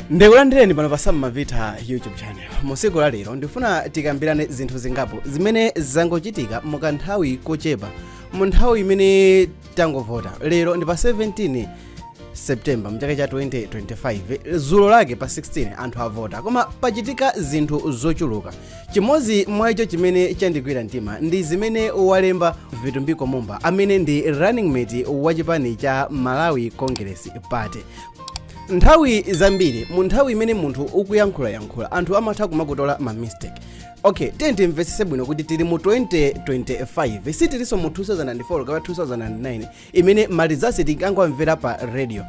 ndikulandireni pano pa sam mavita youtube channel musiku la lero ndifuna tikambirane zinthu zingapo zimene zangochitika mukanthawi kochepa mu nthawi imene tangovota lero ndi pa 17 september mchaka cha 2025 zulo lake pa 16 anthu avota koma pachitika zinthu zochuluka Chimodzi mwa icho chimene chandigwira mtima ndi zimene walemba Vitumbiko Mumba amene ndi running mate wa chipani cha Malawi Congress Party. Nthawi zambiri mu nthawi imene munthu ukuyankhulayankhula anthu amatha kumakutola ma mistake. Okay, tiyeni timvetsetse bwino kuti tili mu 2025 sitilinso mu 2004 kapena 2009 imene malizasi tinkangomvera pa radio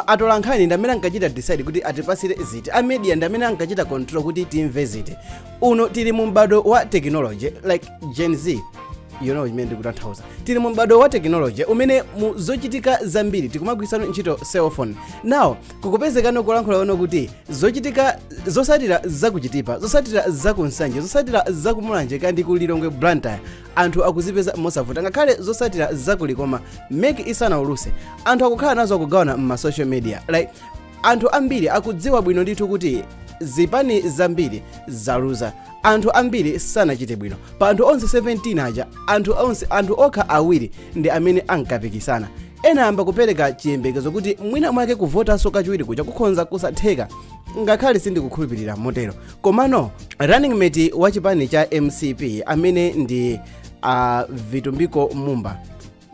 atolankhani ndamene ankachita decide kuti atipasire ziti a media ndamene ankachita control kuti timve ziti uno tili mu m'bado wa technology like gen z you know imene ndikutanthauza tili mu m'bado wa technology umene mu zochitika zambiri tikumagwirisano ntchito cell phone now zikupezeka kulankhula zoona kuti zochitika zosatira zakuchitipa zosatira zakunsanje zosatira zakumulanje kaya ndi ku lilongwe blantyre anthu akuzipeza mosavuta ngakhale zosatira zakulikoma meki isanauluse anthu akukhala nazo akugawana mma social media like anthu ambiri akudziwa bwino ndithu kuti zipani zambiri zaluza anthu ambiri sanachite bwino pa anthu onse 17 aja anthu onse anthu okha awiri ndi amene ankapikisana ena ayamba kupereka chiyembekezo kuti mwina mwake kuvotanso kachiwiri kuja kukhonza kusatheka ngakhale sindikukhulupirira motero komano running mate wa chipani cha mcp amene ndi uh, vitumbiko mumba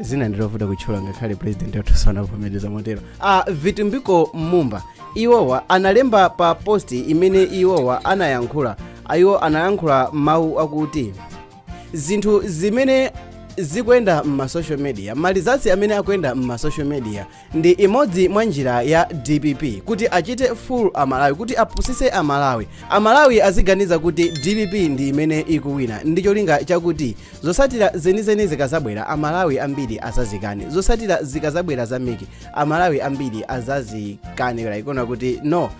dzina ndilovuta kutchula ngakhale president wathu sanavomereza motero uh, vitumbiko mumba iwowa analemba pa posti imene iwowa anayankhula iwo anayankhula mawu akuti zinthu zimene zikuyenda m'masocial media malizasi amene akuyenda m'masocial media Ndi imodzi mwa njira ya dpp kuti achite fool a Malawi kuti apusise a Malawi. A Malawi aziganiza kuti dpp ndi imene ikuwina ndi cholinga chakuti zosatira zenizeni zikazabwera a Malawi ambiri azazikane. Zosatira zikazabwera za meki a Malawi ambiri azazikane like ona kuti no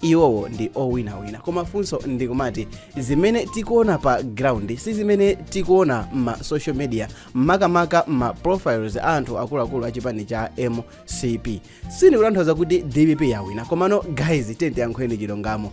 iwowo ndi owinawina koma funso ndikumati zimene tikuona pa ground si zimene tikuona ma social media makamaka ma profiles a anthu akuluakulu a chipani cha mcp sindikutanthauza kuti dpp yawina komano guys tiyeni tiyankhule chilungamo